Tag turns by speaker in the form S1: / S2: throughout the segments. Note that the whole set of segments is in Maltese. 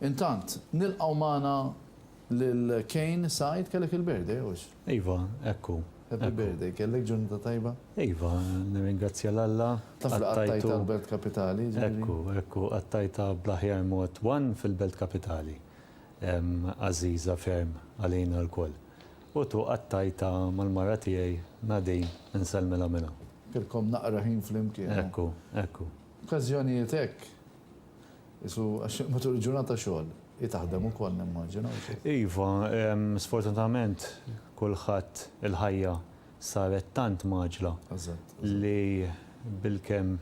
S1: Intant, nilqgħu magħna lil Kane Said, kellek il-birthday hux? Iva, hekk hu. Happy birthday, kellek ġurnata tajba? Iva, nirringrazzja lil Alla. Taf li qattajtha l-Belt Kapitali? Hekk hu, hekk hu, qattajtha bl-aħjar mod, one fil-Belt Kapitali. għażiża ferm għalina lkoll. U tu qattajtha mal-mara tiegħi Nadine, insellmilha minn hawn. Kellkom naqra ħin flimkien. Hekk hu, hekk hu. F'każjonijiet hekk, qisu għax matul il-ġurnata xogħol, hi taħdem ukoll nimmaġina, u xi. Iva, sfortunatament kulħadd il-ħajja saret tant mgħaġġla li bilkemm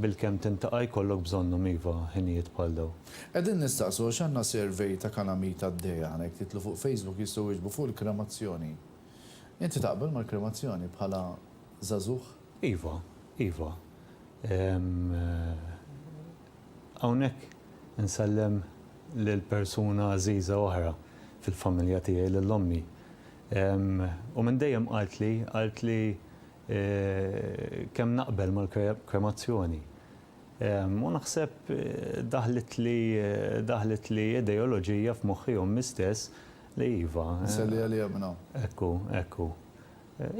S1: bilkemm tintaqa' jkollok bżonnhom iva ħinijiet bħal dawn. Qegħdin nistaqsu għax għandna survey ta' kalamita għaddejja aħna jekk titlu fuq facebook jistgħu jwieġbu fuq il-kremazzjoni. Inti taqbel mal-kremazzjoni bħala żagħżugħ? Iva, iva. Hawnhekk insellem lil persuna għażiża oħra fil-familja tiegħi, lil ommi. U minn dejjem qaltli, qaltli kemm naqbel mal-kremazzjoni. U naħseb daħlitli, daħlitli ideoloġija f'moħħi ommi stess li iva. Nselli għaliha minn hawn. Ekku, ekku.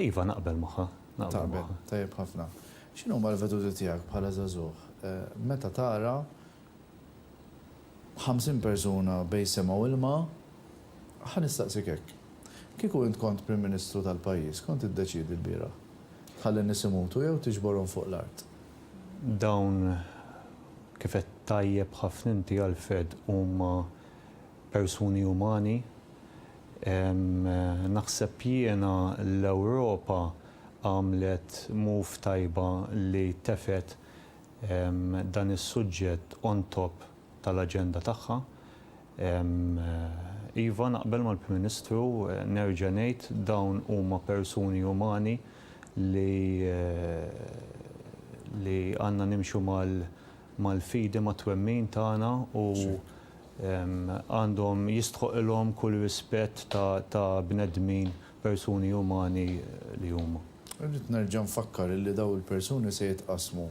S1: Iva, naqbel magħha. Taqbel, tajjeb ħafna. X'inhuma l-veduti tiegħek bħala żagħżugħ meta tara ħamsin persuna bejn sema u ilma? Ħa nistaqsik hekk, kieku int kont Prim Ministru tal-pajjiż, x'kont tiddeċiedi lbieraħ? Tħalli n-nies imutu jew tiġborhom fuq l-art? Dawn, kif għedt tajjeb ħafna inti Alfred, huma persuni umani. Naħseb jiena l-Ewropa għamlet move tajba li tefgħet dan is-suġġett on top tal-aġenda tagħha. Iva, naqbel mal-Prim Ministru, nerġa' ngħid dawn huma persuni umani li li għandna nimxu mal-fidi mat-twemmin tagħna u Għandhom jistħoqilhom kull rispett ta' ta' bnedmin, persuni umani li huma. Irrid nerġa' nfakkar illi dawn il-persuni se jitqassmu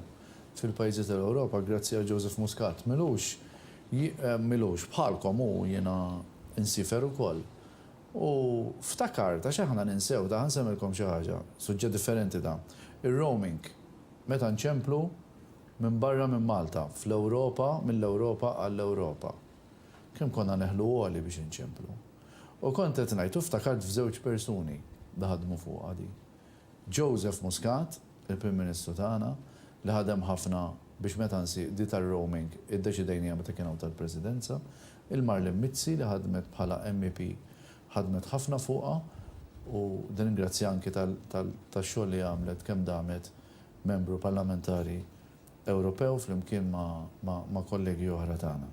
S1: fil-pajjiżi tal-Ewropa grazzi għal Joseph Muscat. Milux ji milux bħalkom hu jiena insiefer ukoll. U ftakart, għax aħna ninsew, ta' ħa nsemmilkom xi ħaġa, suġġett differenti dan. Ir-roaming, meta nċemplu, Minn barra minn Malta, fl-Ewropa, mill-Ewropa għall-Ewropa. Kemm konna neħlu għoli biex inċemplu. U kont qed ngħid u ftakart f'żewġ persuni li ħadmu fuqha di. Joseph Muscat, il-Prim Ministru tagħna, li ħadem ħafna biex meta nsi di tar-roaming iddeċidejniha meta kien hawn tal-Presidenza, il-Marlene Mizzi li ħadmet bħala MEP ħadmet ħafna fuqha u nirringrazzja anki tal-xogħol li għamlet kemm damet Membru Parlamentari Ewropew flimkien ma' kollegi oħra tagħna.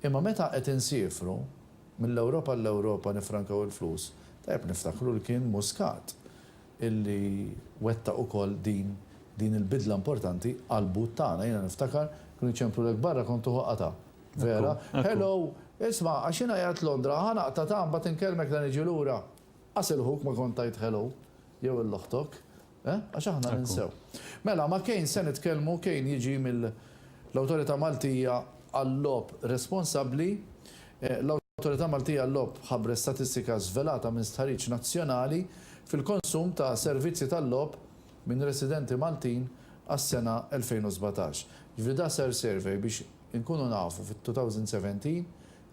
S1: Imma meta qed insiefru mill-Ewropa għall-Ewropa niffrankaw il-flus, tajjeb niftakru li kien Muscat illi wettaq ukoll din din il-bidla importanti għall-but tagħna. Jiena niftakar kienu jċemprulek barra kont tuħu qatgħa. Vera? Hello! Isma', għax jiena qiegħed Londra, ħa naqta' ta' mbagħad inkellmek la niġi lura. Qas il-ħuk ma kont tgħid hello jew 'il oħtok. Eh? Għax aħna ninsew. Mela, ma' Kane se nitkellmu, Kane jiġi mill-Awtorità Maltija għal-Logħob Responsabbli. L-Awtorità Maltija għal-Logħob ħabbret statistika żvelata minn stħarriġ nazzjonali fil-konsum ta' servizzi tal-logħob minn residenti Maltin għas-sena 2017. Jiġifieri da sar survey biex inkunu nafu fit-2017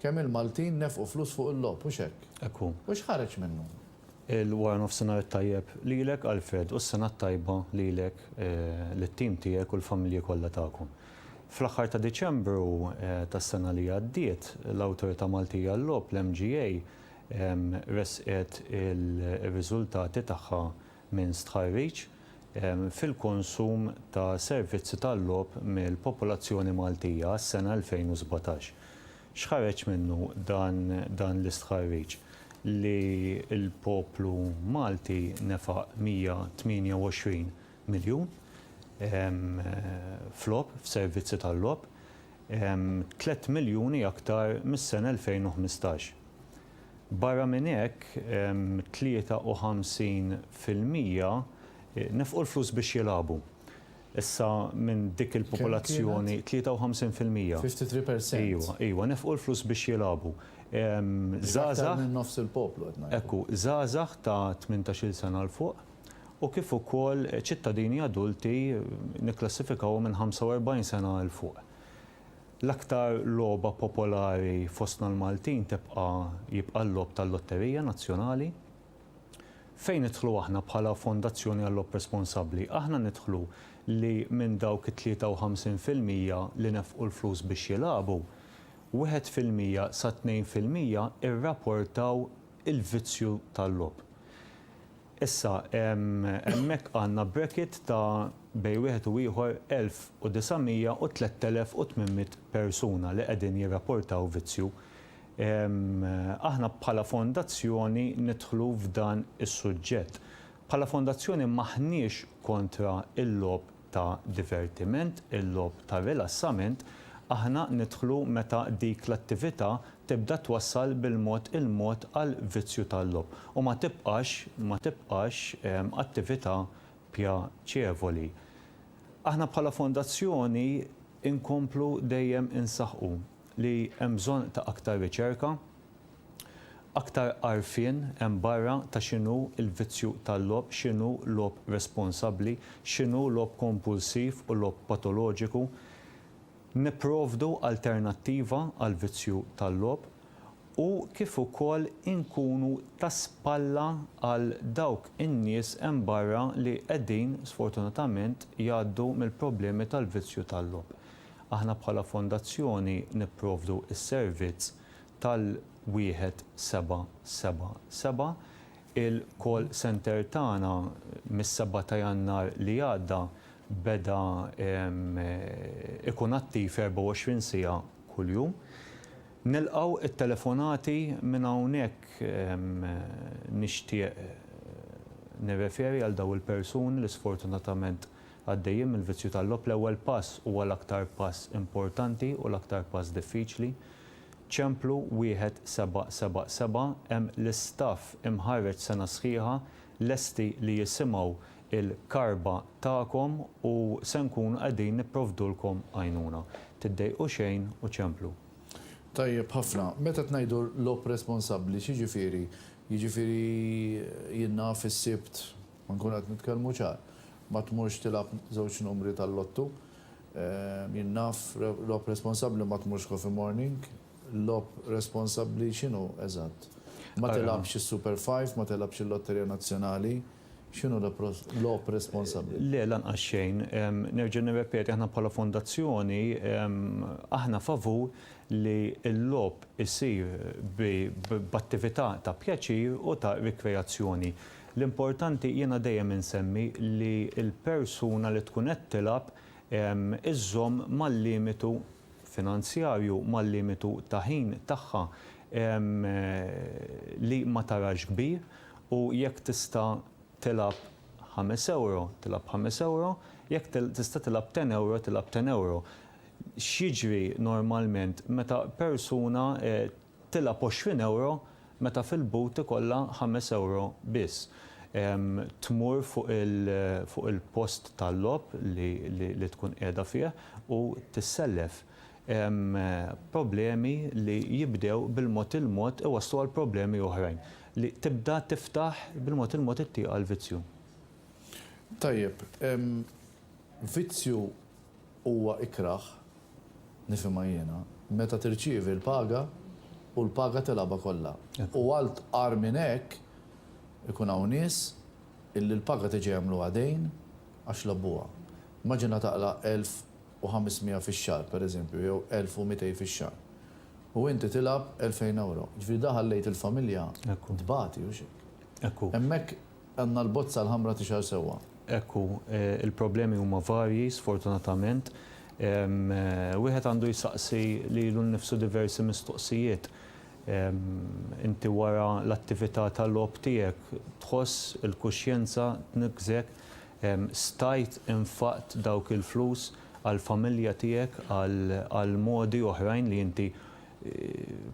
S1: kemm il-Maltin nefqu flus fuq il-logħob, hux hekk? Hekk hu. U x'ħareġ minnu? Il-wara nofsinhar it-tajjeb lilek Alfred u s-sena t-tajba lilek, lit-tim tiegħek u l-familji kollha tagħkom. Fl-aħħar ta' Diċembru tas-sena li għaddiet, l-Awtorità Maltija għal-Logħob, l-MGA, ressqet ir-riżultati tagħha minn stħarriġ fil-konsum ta' servizzi tal-logħob mill-popolazzjoni Maltija għas-sena 2017. X'ħareġ minnu dan l-istħarriġ? Li l-poplu Malti nefaq 128 miljun f'logħob, f'servizzi tal-logħob, tliet miljuni aktar mis-sena 2015. Barra minn hekk, 53 fil-mija nefqu l-flus biex jilagħbu. Issa minn dik il-popolazzjoni 53 fil-mija. 53 percent. Iwa, iwa, nefqu l-flus biex jilagħbu. Żgħażagħ. Aktar minn nofs il-poplu qed ngħidu. Ekku, żgħażagħ ta' tmintax-il sena 'l fuq u kif ukoll ċittadini adulti nikklassifikawhom minn 45 sena 'l fuq. L-aktar logħba popolari fostna l-Maltin tibqa' jibqa' l-logħob tal-lotterija nazzjonali. Fejn nidħlu aħna bħala Fondazzjoni għall-Logħob Responsabbli? Aħna nidħlu li minn dawk it-53 fil-mija li nefqu l-flus biex jilagħbu, wieħed fil-mija sa tnejn fil-mija rraportaw il-vizzju tal-logħob. Issa, hemmhekk għandna bracket ta' bejn wieħed u ieħor 1,900 u 3,800 persuna li qegħdin jirraportaw vizzju. Aħna bħala Fondazzjoni nidħlu f'dan is-suġġett. Bħala Fondazzjoni m'aħniex kontra l-logħob ta' divertiment, il-logħob ta' rilassament, aħna nidħlu meta dik l-attività tibda twassal bil-mod il-mod għal vizzju tal-logħob u ma tibqax ma tibqax attività pjaċevoli. Aħna bħala Fondazzjoni nkomplu dejjem insaħħu li hemm bżonn ta' aktar riċerka, aktar għarfien hemm barra ta' x'inhu l-vizzju tal-logħob, x'inhu logħob responsabbli, x'inhu logħob kompulsiv u logħob patoloġiku. Nipprovdu alternattiva għall-vizzju tal-logħob u kif ukoll inkunu ta' spalla għal dawk in-nies hemm barra li qegħdin sfortunatament jgħaddu mill-problemi tal-vizzju tal-logħob. Aħna bħala Fondazzjoni nipprovdu s-servizz tal-1777. Il-call centre tagħna mis-seba' ta' Jannar li għadda beda jkun attiv 24 siegħa kuljum. Nilqgħu t-telefonati minn hawnhekk nixtieq nirreferi għal dawn il-persuni li sfortunatament Għaddejjin mill-vizzju tal-logħob l-ewwel pass huwa l-aktar pass importanti u l-aktar pass diffiċli. Ċemplu wieħed seba' seba' seba' hemm l-istaff imħarreġ sena sħiħa lesti li jisimgħu l-karba tagħkom u se nkunu qegħdin nipprovdulkom għajnuna. Tiddejqu xejn u ċemplu. Tajjeb ħafna. Meta qed ngħidu logħob responsabbli x'jiġifieri? Jiġifieri jien naf is-Sibt Ma nkunu qed nitkellmu ċar. Ma tmurx tilgħab żewġ numri tal-lottu. Jien naf, logħob responsabbli ma tmurx coffee morning. Logħob responsabbli x'inhu eżatt? Ma tilgħabx is-Super Five, ma tilgħabx il-Lotterija Nazzjonali. X'inhu logħob responsabbli? Le, lanqas xejn. Nerġa' nirrepeti, aħna bħala fondazzjoni, aħna favur li l-logħob isir b'attività ta' pjaċir u ta' rikreazzjoni. L-importanti, jiena dejjem insemmi li l-persuna li tkun qed tilgħab iżżomm mal-limitu finanzjarju, mal-limitu ta' ħin tagħha, li ma tarax kbir u jekk tista' tilgħab ħames ewro, tilgħab ħames ewro, jekk tista' tilgħab ten ewro, tilgħab ten ewro. X'jiġri normalment meta persuna Tilgħab b'għoxrin ewro meta fil-but ikollha ħames ewro biss. Tmur fuq il-post tal-logħob li tkun qiegħda fih u tissellef. Problemi li jibdew bil-mod il-mod iwasslu għal problemi oħrajn li tibda tiftaħ bil-mod il-mod it-tieq għall-vizzju. Tajjeb, vizzju Huwa ikrah, nifhimha jiena, meta tirċievi l-paga u l-paga tilgħabha kollha. U għal tqar minn hekk, ikun hawn nies illi l-paga tiġi jagħmluha dejn għax labbuha. Immaġina taqla' elf u ħames miegħa fix-xahar, per eżempju, jew elf u mitej fix-xahar. U inti tilgħab elfejn ewro. Jiġifieri da ħallejt il-familja tbati, hux hekk? Hemmhekk. Għandna l-bozza l-ħamra tixgħar sewwa. Hekk hu, il-problemi huma varji, sfortunatament. Wieħed għandu jsaqsi lilu nnifsu diversi mistoqsijiet. Inti wara l-attività ta' logħob tiegħek tħoss il-kuxjenza tniggżek? Stajt infaqt dawk il-flus għall-familja tiegħek, għal modi oħrajn li inti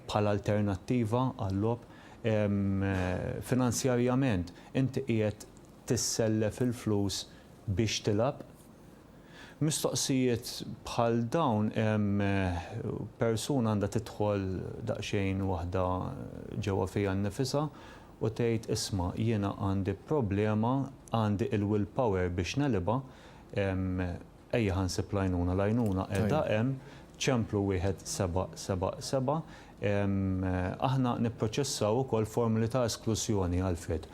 S1: bħala alternattiva għal-logħob? Finanzjarjament inti qiegħed tissellef il-flus biex tilgħab? Mistoqsijiet bħal dawn persuna għandha tidħol daqsxejn waħda ġewwa fiha nnifisha u tgħid isma' jiena għandi problema għandi il-will power biex negħlibha, Ejja ħa nsib l-għajnuna, l-għajnuna qiegħda hemm, Ċemplu wieħed seba' seba' seba'. Aħna nipproċessaw ukoll formoli ta' esklużjoni għal fid.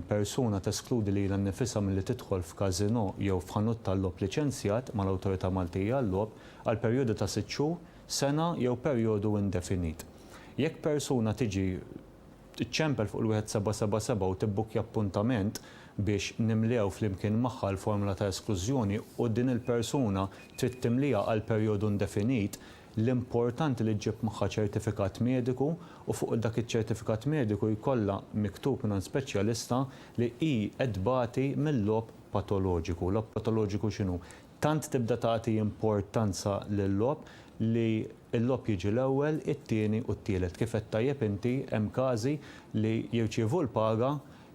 S1: Persuna teskludi lilha nnifisha milli tidħol f'każinò jew f'ħanut tal-logħob liċenzjat mal-Awtorità Maltija għal-Logħob għal perjodu ta' sitt xhur, sena jew perjodu indefinit. Jekk persuna tiġi. Iċċempel fuq il-1777 u tibbukkja appuntament biex nimlew flimkien magħha l-formola ta' esklużjoni u din il-persuna trid timlieha għal perjodu indefinit, l-importanti li ġġib magħha ċertifikat mediku u fuq dak iċ-ċertifikat mediku jkollha miktub mingħand speċjalista li hi qed tbati mil-logħob patoloġiku. Logħob patoloġiku x'inhu? Tant tibda tagħti importanza lil-logħob li l-logħob jiġi l-ewwel, it-tieni u t-tielet. Kif għedt tajjeb inti, hemm każi li jirċievu l-paga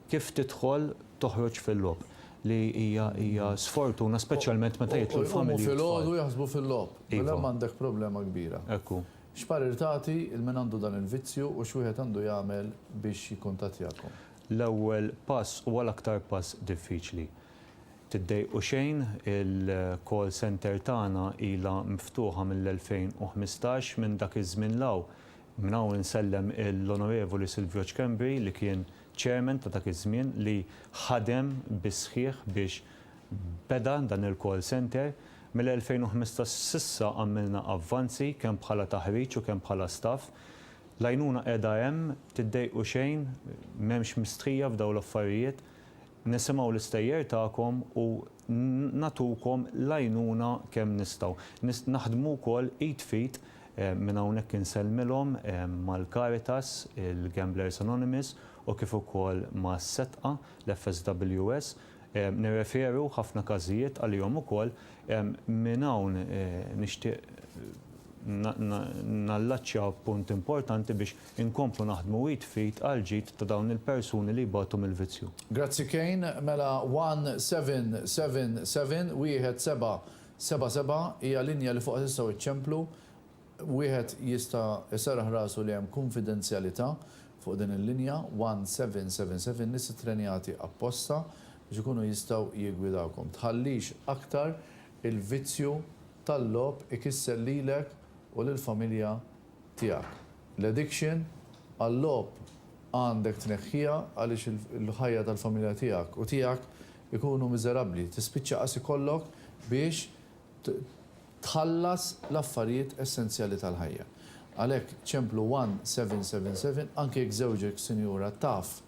S1: kif tidħol toħroġ fil-logħob, li hija hija sfortuna speċjalment meta jidħlu l-familji b'tfal. U jqumu filgħodu jaħsbu fil-logħob. Iva. Mela hemm għandek problema kbira. Hekk hu. X'parir tagħti 'l min għandu dan il-vizzju u x'wieħed għandu jagħmel biex jikkuntattjakom? L-ewwel pass huwa l-aktar pass diffiċli. Tiddejqu xejn, il-call centre tagħna ilha miftuħa mill-2015, minn dak iż-żmien 'l hawn. Minn hawn insellem l-Onorevoli Silvio Schembri li kien Chairman ta' dak iż-żmien li ħadem bis-sħiħ biex beda dan il-call centre. Mill-2015 s'issa għamilna avvanzi kemm bħala taħriġ u kemm bħala staff. L-għajnuna qiegħda hemm, tiddejqu xejn, m'hemmx mistħija f'dawn l-affarijiet. Nisimgħu l-istejjer tagħkom u nagħtukom l-għajnuna kemm nistgħu. Naħdmu wkoll id f'id, minn hawnhekk insellmilhom, mal-Caritas, il-Gamblers Anonymous u kif ukoll ma' setqa, l-FSWS. Nirreferu ħafna każijiet għalihom ukoll. Minn hawn nixtieq nallaċċja punt importanti biex Inkomplu naħdmu id f'id għall-ġid ta' dawn il-persuni li jbatu mill-vizzju. Grazzi Kane, mela one seven seven seven, wieħed sebgħa sebgħa sebgħa, hija linja li fuqha tistgħu iċċemplu, wieħed jista' jserraħ rasu li hemm kunfidenzjalità fuq din il-linja one seven seven seven, nies ittrenjati apposta biex ikunu jistgħu jiggwidawkom. Tħallix aktar il-vizzju tal-logħob ikisser lilek u lill-familja tiegħek. L-addiction għal-logħob għandek tneħħiha għaliex il-ħajja tal-familja tiegħek u tiegħek ikunu miżerabbli. Tispiċċa qas ikollok biex tħallas l-affarijiet essenzjali tal-ħajja. Għalhekk ċemplu 1777 anke jekk żewġek, sinjura, taf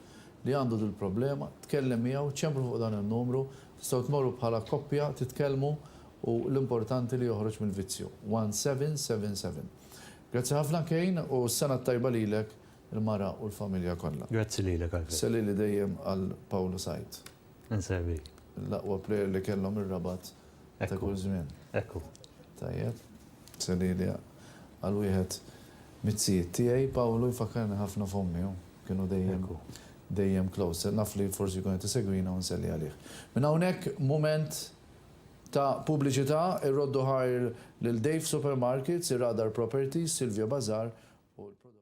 S1: li għandu dil-problema, tkellem miegħu, ċemplu fuq dan in-numru, tistgħu tmorru bħala koppja titkellmu u l-importanti li joħroġ mill-vizzju. 1777. Grazzi ħafna Kane u s-Sena t-Tajba lilek, il-mara u l-familja kollha. Grazzi lilek Alfred. Sellili dejjem għal Pawlu Said. Insellmik. L-aqwa plejer li kellhom ir-Rabat ta' kull żmien. Hekk hu. Tajjeb. Sellili għal wieħed miz-zijiet tiegħi. Pawlu jfakkarni ħafna f'ommi hu. Kienu dejjem dejjem close. Naf li forsi jkun qed isegwina u nselli għalih. Minn hawnhekk mument Ta' pubbliċità, Irroddu Hire lil Dave Supermarkets, Irradar Properties, Silvio Bazaar u l-prodotti.